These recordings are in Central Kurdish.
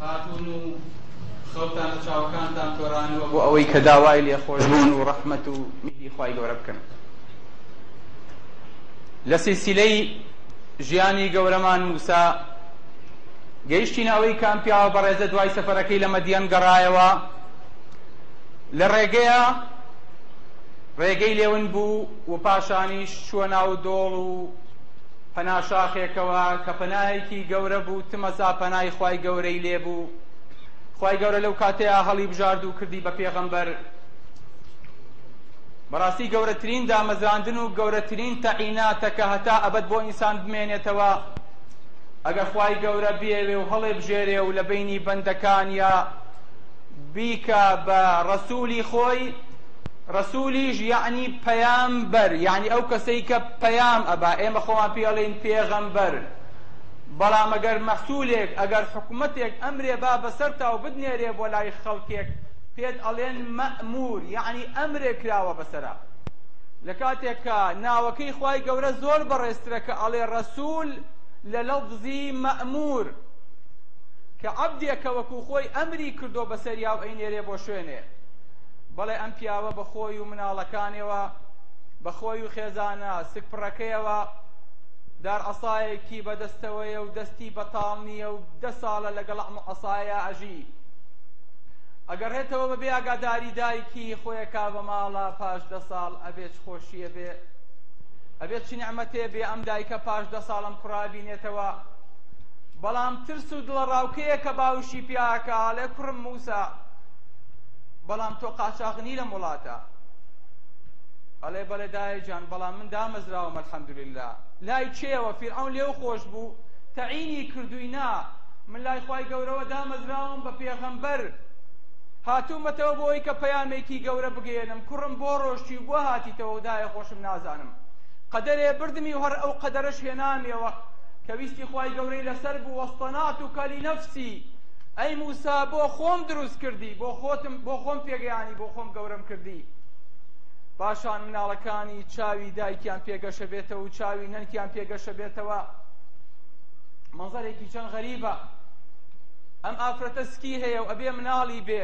هاتوون و خەوتان لە چاوەکانتان تۆرانەوە بۆ ئەوەی کە داوای لێخۆشبوون و ڕەحمەت و میهری خوای گەورە بکەن لە سیسیلەی ژیانی گەورەمان موسا گەیشتینە ئەوەی کە ئەم پیاوە بەڕێزە دوای سەفەرەکەی لە مەدیەن گەڕایەوە لە ڕێگەیە ڕێگەی لێون بوو و پاشانیش چووە ناو دۆڵ و پەنا شاخێکەوە کە پەنایەکی گەورە بوو تمەسا پەنای خوای گەورەی لێ بوو خوای گەورە لەو کاتەیە هەڵی بژارد و کردی بە پێغەمبەر بەڕاستی گەورەترین دامەزراندن و گەورەترین تەعیناتە کە هەتا ئەبەد بۆ ئینسان بمێنێتەوە ئەگەر خوای گەورە بێوێ و هەڵێ بژێرێ و لە بینی بەندەکانیا بیکە بە ڕەسوولی خۆی ڕەسوولیش یعنی پەیامبەر یعنی ئەو کەسەی کە پەیام ئەبا ئێمە خۆمان پێی ئەڵێین پێغەمبەر بەڵام ئەگەر مەحسولێک ئەگەر حکومەتێک ئەمرێ با بەسەرتاو بدنێرێ بۆ لای خەڵکێک پێت ئەڵێن مەئمور یعنی ئەمرێ کراوە بەسەرا لە کاتێک کە ناوەکەی خوای گەورە زۆر بەڕێزترە کە ئەڵێ ڕەسول لە لەفزی مەئمور کە عەبدێکە وەکو خۆی ئەمری کردو بەسەریا و ئەینێرێ بۆ شوێنێ بەڵێ ئەم پیاوە بە خۆی و مناڵەکانیەوە بە خۆی و خێزانە سکپڕەکەیەوە دار عەسایەکی بەدەستەوەیە و دەستی بەتاڵ نییە و دە ساڵە لەگەڵ ئەم عەسایە ئەژی ئەگەڕێتەوە بەبێ ئاگاداری دایکی خۆیە کا بە ماڵە پاش دە ساڵ ئەبێت خۆشیە بێ ئەبێت چ نعمەتێ بێ ئەم دایکە پاش دە ساڵم کوڕابینێتەوە بەڵام ترس و دڵەڕاوکەیە کە باوشی پیاکە ئاڵێ کوڕم موسا بەڵام تۆ قاچاغ نی لەم وڵاتە ئەڵێ بەڵێ دایە جان بەڵام من دامەزراوم الحەمدللە لای کێوە فیرعەون لێو خۆش بوو تەعینی کردووی نا من لای خوای گەورەوە دامەزراوم بە پێغەمبەر هاتوومەتەوە بۆی کە پەیامێکی گەورە بگەێنم کوڕم بۆ ڕۆشتی و بۆ هاتیتەوە دایە خۆشم نازانم قەدەرێ بردمی و هەر ئەو قەدەرش هێنامەوە کە ویستی خوای گەورەی لەسەر بوو وەستەنات و کەلی نەفسی ئەی موسا بۆ خۆم دروست کردی بۆ خۆتم بۆ خۆم پێگەیانی بۆ خۆم گەورەم کردی پاشان مناڵەکانی چاوی دایکیان پێگەشە بێتەوە و چاوی نەنکیان پێگەشە بێتەوە مەزەرێکی چەند غەریبە ئەم ئافرەتە سکی هەیە و ئەبێ مناڵی بێ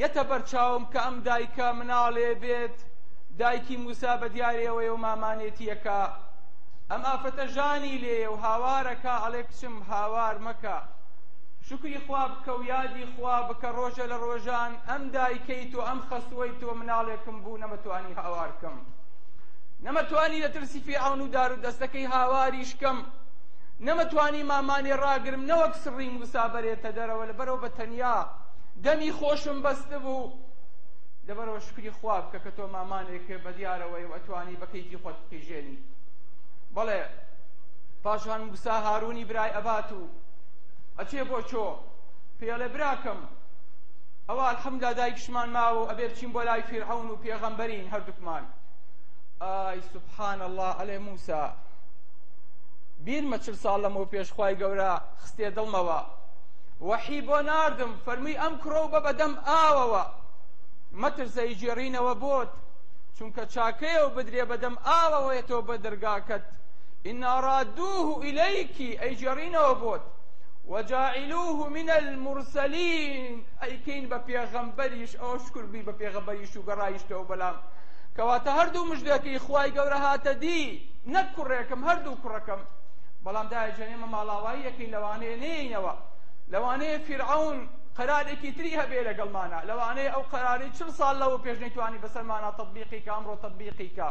یەتە بەرچاوم کە ئەم دایکە مناڵێ بێت دایکی موسا بە دیارەوەی و مامانێتیەکە ئەم ئافرەتە ژانی لێیە و هاوارەکە ئەڵێ کچم هاوار مەکە شکری خوا بکە و یادی خوا بکە ڕۆژە لە ڕۆژان ئەم دایکەی تۆ ئەم خەسوەی تۆ مناڵێکم بوو نەمەتوانی هاوارکەم نەمەتوانی لە ترسی فیعون و دار و دەستەکەی هاواریشکەم نەمەتوانی مامانێ ڕاگرم نەوەک سڕی موسا بەرێتە دەرەوە لە بەرەوە بە تەنیا دەمی خۆشم بەست بوو لەبەرەوە شکری خوا بکە کە تۆ مامانێک بە دیارەوەی و ئەتوانی بە کەیفی خۆت بقیژێنی بەڵێ پاشان موسا هارونی برای ئەبات و ئەچێ بۆ چۆ پێڵێ براکەم ئەوە الحەمدا دایکشمان ماوە ئەبێ بچین بۆ لای فیرعون و پێغەمبەرین هەردووکمان ئای سبحان الله ئەلێ موسا بیرمە چل ساڵ لەمەوە پێش خوای گەورە خستێ دڵمەوە وەحی بۆ ناردم فەرمی ئەم کڕۆ بە بەدەم ئاوەوە مەترسەی جێڕینەوە بۆت چونکە چاکەیە و بدرێ بەدەم ئاوەوەیەتەوە بە دەرگاکەت ئینا رادوه ئیلیکی ئەیگێڕینەوە بۆت وجاعلوه من المرسلین ئەیکەین بە پێغەمبەریش ئەوە شکر بووی بە پێغەمبەریش و گەڕایشتەوە بەلام کەواتە هەردوو مژدەکەی خوای گەورە هاتە دی نەک کوڕێکم هەردوو کوڕەکەم بەڵام دایجان ئێمە ماڵاوایی یەکەین لەوانەیە نێینەوە لەوانەیە فیرعون قەرارێکی تری هەبێ لەگەڵمانە لەوانەیە ئەو قەراری چل ساڵ لەوە پێش نەیتوانی بەسەرمانە تەطبیقی کە ئەمڕۆ تەطبیقی کە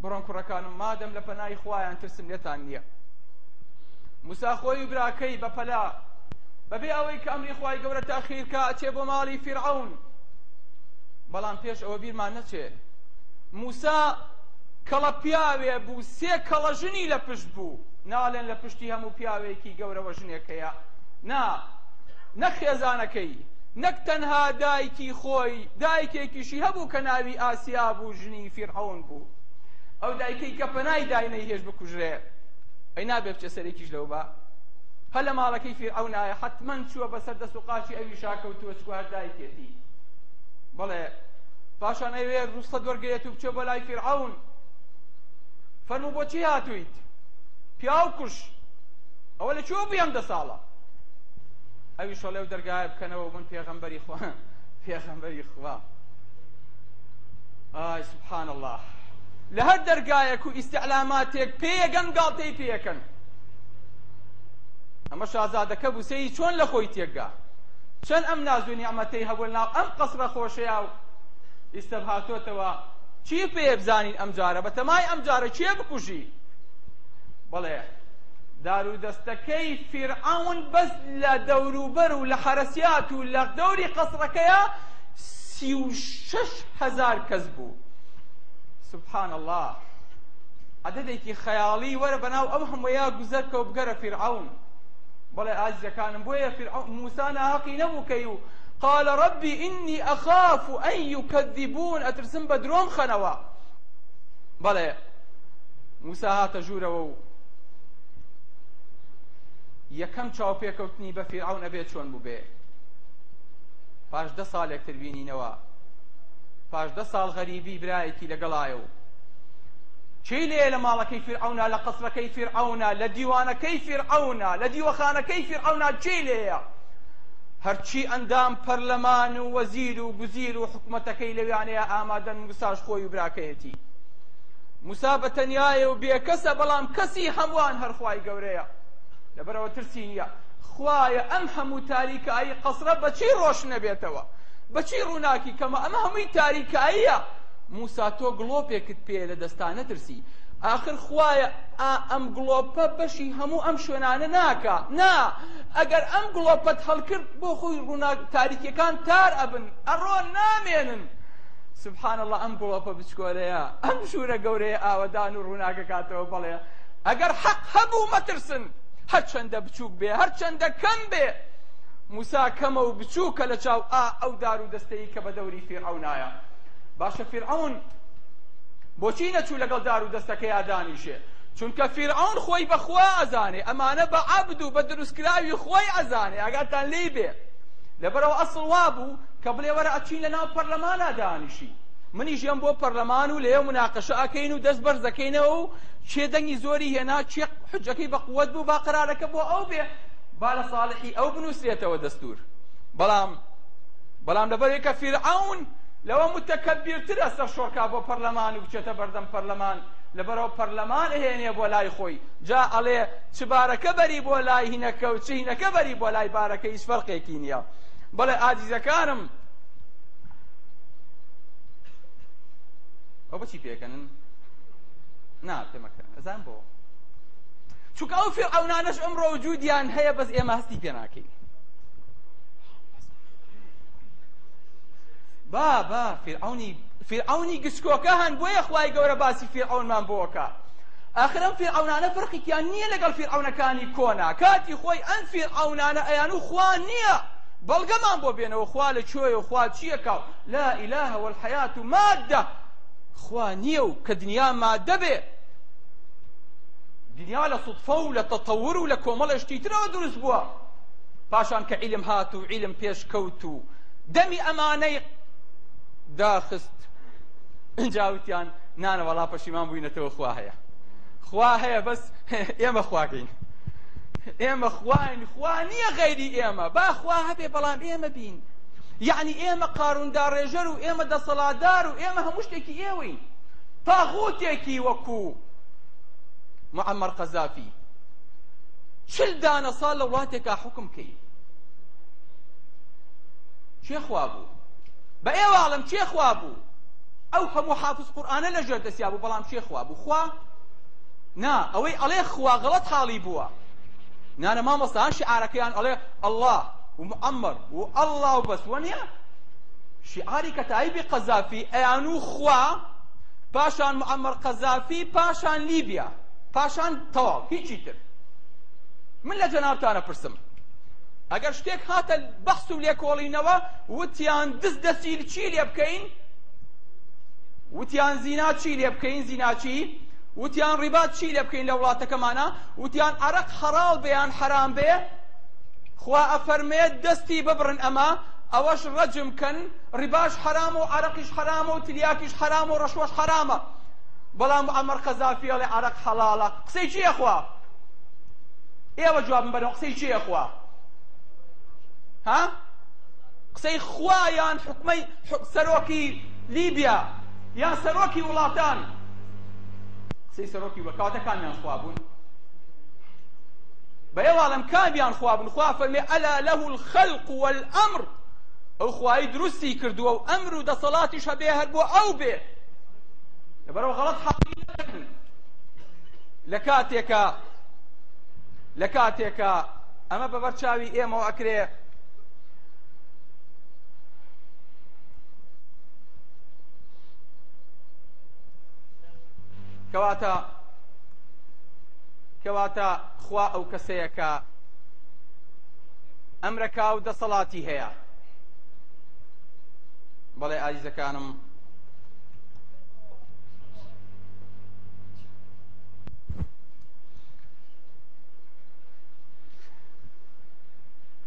بڕۆن کوڕەکانم مادەم لە پەنای خوایان ترسم لێتان نییە موسا خۆی و براکەی بە پەلا بەبێ ئەوەی کە ئەمری خوای گەورە تاخیرکە ئەچێ بۆ ماڵی فیرعەون بەڵام پێش ئەوە بیرمان نەچێ موسا کەڵە پیاوێ بوو سێ کەڵە ژنی لە پشت بوو ناڵێن لە پشتی هەموو پیاوێکی گەورەوە ژنێک هەیە نا نەک خێزانەکەی نەک تەنها دایکی خۆی دایکێکیشی هەبوو کە ناوی ئاسیا بوو ژنی فیرعەون بوو ئەو دایکەی کە پەنای دای نەیهێش بکوژرێ ئەی نابێ بچێ سەرێکیش لەو بە هەر لە ماڵەکەی فیرعەونایە حەتمەن چووە بەسەر دەست و قاچی ئەوی شاکەوتووە چکو هەر دایکێتی بەڵێ پاشان ئەوێ ڕوسەت وەرگێت و بچێ بۆ لای فیرعەون فەرموو بۆچی هاتوویت پیاو کوش ئەوە لە چۆ بێم دە ساڵە ئەوی شەڵێ و دەرگایە بکەنەوە من پێغەمبەری خوا پێغەمبەری خوا ئای سبحان اللە لە هەر دەرگایەک و ئیستعلاماتێک پێیەگەن گاڵتەی پێیەکەن ئەمە شازادەکە بوسەی چۆن لە خۆی تێکگا چەند ئەم ناز و نیعمەتەی هەبوو ناو ئەم قەسرە خۆشەیە و ئیستا هاتۆتەوە چی پێ بزانین ئەم جارە بە تەمای ئەم جارە کێ بکوژی بەڵێ دار و دەستەکەی فیرعون بەس لە دەوروبەر و لە حەرەسیات و لە دەوری قەسرەکەیە سی و شەش هەزار کەس بوو سبحان الله عددێکی خەیاڵی وەرە بەناو ئەو هەموویا گوزەرکە و بگەرە فیرعون بەڵێ ئازیەکانم بۆیە فیرعون موسا ناهەقی نەبوو کەی و قال ربی ئینی ئەخاف ئەن یکەذبون ئەترسم بە درۆم خەنەوە بەڵێ موسا هاتە ژوورەوە و یەکەم چاوپێکەوتنی بە فیرعون ئەبێ چۆن بووبێ پاش دە ساڵێک تر بینینەوە پاش دە ساڵ غەریبی برایەکی لەگەڵایە و چی لێ لە ماڵەکەی فیرعەونا لە قەسرەکەی فیرعەونا لە دیوانەکەی فیرعەونا لە دیوەخانەکەی فیرعەونا چی لێیە هەرچی ئەندام پەرلەمان و وەزیر و گوزیر و حکومەتەکەی لەویانەیە ئامادەن موساش خۆی و براکەیەتی موسا بە تەنیایە و بێکەسە بەڵام کەسی هەمووان هەرخوای گەورەیە لەبەرەوە ترسی نییە خوایە ئەم هەموو تاریکایی قەسرە بەچی ڕۆشنەبێتەوە بەچی ڕووناکی کەمە ئەمە هەمووی تاریکاییە موسا تۆ گڵۆپێکت پێیە لە دەستا نەترسی ئاخر خوایە ئا ئەم گڵۆپە بەشی هەموو ئەم شوێنانە ناکا نا ئەگەر ئەم گڵۆپەت هەڵکرد بۆ خۆی ڕووناک تاریکیەکان تار ئەبن ئەڕۆن نامێنن سبحان الله ئەم گڵۆپە بچکۆلەیە ئەم ژوورە گەورەیە ئاوەدان و ڕووناکەکاتەوە بەڵێ ئەگەر حەق هەبوو مەترسن هەرچەندە بچووک بێ، هەرچەندە کەم بێ، موسا کەمە و بچووکە لە چاو ئا ئەو دار و دەستەی کە بە دەوری فیرعەونایە. باشە فیرعەون بۆچی نەچوو لەگەڵ دار و دەستەکەیا دانیشێ؟ چونکە فیرعەون خۆی بە خوا ئەزانێ، ئەمانە بە عەبد و بە دروستکراوی خۆی ئەزانێ، ئاگاتان لێی بێ. لەبەرئەوە ئەسڵ وا بوو کە بڵێ وەرە ئەچین لە ناو پەرلەمانا دانیشین. منیش یەم بۆ پەرلەمان و لەوێ مناقەشە ئەکەین و دەست بەرز ئەکەینەوە و کێ دەنگی زۆری هێنا، کێ حجەکەی بە قوەت بوو با قەرارەکە بۆ ئەو بێ با لە ساڵحی ئەو بنووسرێتەوە دەستور بەڵام بەڵام لەبەرێک کە فیرعون لەوە متەکەبیرترە سەر شۆڕکا بۆ پەرلەمان و بچێتە بەردەم پەرلەمان لەبەرەوە پەرلەمان ئەهێنێ بۆ لای خۆی جا ئەڵێ چ بارەکە بەری بۆ لای هینەکە و چ هینەکە بەری بۆ لای بارەکە هیچ فەرقێکی نییە بەڵێ ئازیزەکانم ئەو بچی پێکەنن نا پێمەکەن ئەزان بۆ چونکە ئەو فێرعونانەش ئەم ڕۆجودیان هەیە بەس ئێمە هەستی پێ ناکەین با با فێرعونی فێرعونی گچکۆکە هەن بۆیە خوای گەورە باسی فێرعونمان بۆکە ئاخرم فێرعونانە فەرقیان نییە لەگەڵ فێرعونەکانی کۆنا کاتی خۆی ئەم فێرعونانە ئەیان و خوا نییە بەڵگەمان بۆ بێنەوە خوا لە کوێیە خوا چییەکە لا ئیلاهە والحیات و مادە خوا نییە و کە دنیا مادە بێ دنیا لە سوتفە و لە تەتەور و لە کۆمەڵێ شتی ترەوە دروست بووە پاشان کە عیلم هات و عیلم پێش کەوت و دەمی ئەمانەی داخست جاوتیان نانە وەڵا پەشیمان بووینەتەوە خوا هەیە خوا هەیە بەس ئێمە خواکەین ئێمە خواین خوا نییە غەیری ئێمە با خوا هەبێ بەڵام ئێمە بین یەعنی ئێمە قارون داڕێژەر و ئێمە دەسەڵاتدار و ئێمە هەموو شتێکی ئێوەین تاغوتێکی وەکو معمر قەزافی چل دانە ساڵ لە وڵاتێکا حکم کەی چێ خوا بوو بە ئێواڵم چێ خوا بوو ئەو هەموو حافظ قورآانە لە ژێر دەسیا بوو بەڵام چێ خوا بوو خوا نا ئەوەی ئەڵێ خوا غەڵەت حاڵی بووە نانە مامۆستا شعارەکەیان ئەڵێ ئەڵڵا ومعمر و ئەڵا و بەس وەنیە شیعاری کەتائیبی قەزافی ئەیان و خوا پاشان معمر قەزافی پاشان لیبیا پاشان تەواو هیچی تر من لە جەنابتانە پرسم ئەگەر شتێک هاتە بەحس و لێکۆڵینەوە وتیان دز دەسیل چی لێ بکەین وتیان زینا چی لێ بکەین زیناچی وتیان ڕیبات چی لێ بکەین لە وڵاتەکەمانە وتیان عرق حەڵاڵ بێیان حەرام بێ خوا ئەفەرمێت دەستی ببڕن ئەمە ئەوەش ڕەجم کەن ڕیباش حەرام و عرەقیش حەرامە و تلیاکیش حەرام و ڕەشوەش حەرامە بەڵام عمر قەزافی ئەڵێ عرەق حەڵاڵە قسەی چیە خوا ئێوە جوابم بەرەوە قسەی چیە خوا ها قسەی خوایان حکومەی سەرۆکی لیبیا یان سەرۆکی وڵاتان قسەی سەرۆکی بە کاتەکانیان خوا بوون بە ئێوە ئەڵێم کامیان خوا بن خوا فەرمێ ئەلا لەه الخەلق والئەمر ئەو خوایی دروستی کردووە و ئەمر و دەسەڵاتیش هەبێ هەر بۆ ئەو بێ لەبەرەوە غەڵەت حەقی نەکەن لە کاتێکە لە کاتێکە ئەمە بەبەر چاوی ئێمەوە ئەکرێ کەواتە کەواتە خوا ئەو کەسەیە کە ئەمرەکا و دەسەڵاتی هەیە بەڵێ ئازیزەکانم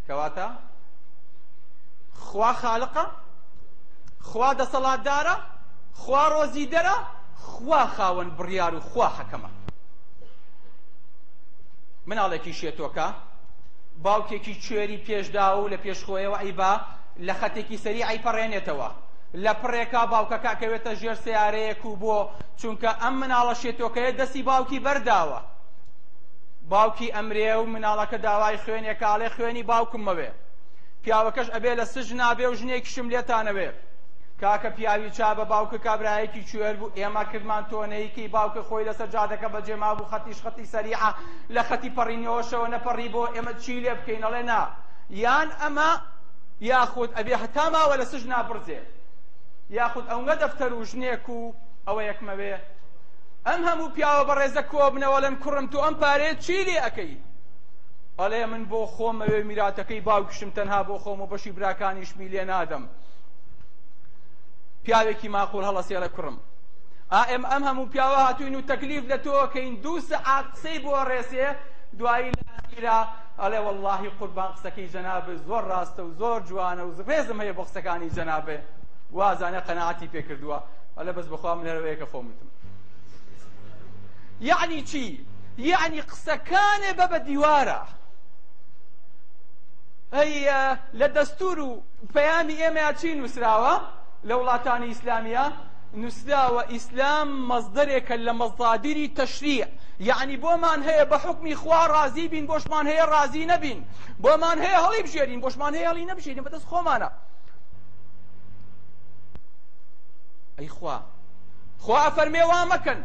کەواتە خوا خالقە خوا دەسەڵاتدارە خوا ڕۆزیدەرە خوا خاوەن بڕیار و خوا حەکەمە مناڵێکی شێتۆکە باوکێکی کوێری پێشداوە و لە پێشخۆیەوە ئەیبا لە خەتێکی سەری ئەیپەڕێنێتەوە لە پڕێکا باوکەکە کەوێتە ژێر سیارەیەک و بۆ چونکە ئەم مناڵە شێتۆکەیە دەستی باوکی بەرداوە باوکی ئەمرێ و مناڵەکە داوای خوێنێ کاڵێ خوێنی باوکمەوێ پیاوەکەش ئەبێ لە سژ نابێ و ژنێکیشم لێتانەوێ کاکە پیاوی چا بە باوکە کابراایەکی کوێر بوو ئێمە کردمان تۆنەی کەی باوکە خۆی لەسەر جادەکە بەجێ مابوو خەتیش خەتی سەریعە لە خەتی پەڕینەوەشەوە نەپەڕی بۆ ئێمە چی لێ بکەین ئەڵێ نا یان ئەمە یاخود ئەبێ هەتا ماوە لە سجنا بڕزێ یاخود ئەونگە دەفتەر و ژنێک و ئەوە یەکمەوێ ئەم هەموو پیاوە بەڕێزە کۆبنەوەڵێن کوڕم تو ئەم پارێ چی لێ ئەەکەی ئەڵێ من بۆ خۆم ئەوێ میراتەکەی باوکشم تەنها بۆ خۆم و بەشی براکانیشمی لێ نادەم پیاوێکی ماقول هەڵەسێڵە کوڕم ئا ئێم ئەم هەموو پیاوە هاتووین و تەکلیف لە تۆکەین دوو سەعات قسەی بۆ ڕێسێ دوایی لە ئەخیرا ئەڵێ واللهی قوربان قسەکەی جەنابت زۆر ڕاستە و زۆر جوانە و ڕێزم هەیە بۆ قسەکانی جەنابێ وازانە قەنەعەتی پێ کردووە ئەلە بەس بەخوا من هەرەوەیەکە خۆمتم یعنی چی؟ یعنی قسەکانێ بە بە دیوارە ئەی لە دەستور و پەیامی ئێمەیا چی نوسراوە لە وڵاتانی ئیسلامیا نوسراوە ئیسلام مەزدەرێکە لە مەزادیری تەشریع یعنی بۆمان هەیە بە حکمی خوا ڕازی بین بۆشمان هەیە ڕازی نەبین بۆمان هەیە هەڵی بژێرین بۆشمان هەیە هەڵی نەبژێرین بەدەست خۆمانە ئەی خوا خوا فەرمێ وا مەکەن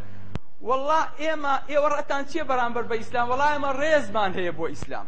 والله ئێمە ئێوە ڕەتان چیە بەرامبەر بە ئیسلام وڵای ئەمە ڕێزمان هەیە بۆ ئیسلام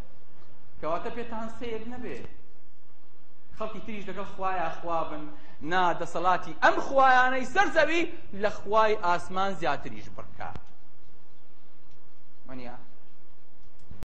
کەواتە پێتان سەیر نەبێ خەڵکی تریش لەگەڵ خوایە خوابن نا دەسەڵاتی ئەم خوایانەی سەر زەوی لە خوای ئاسمان زیاتریش بڕکە منە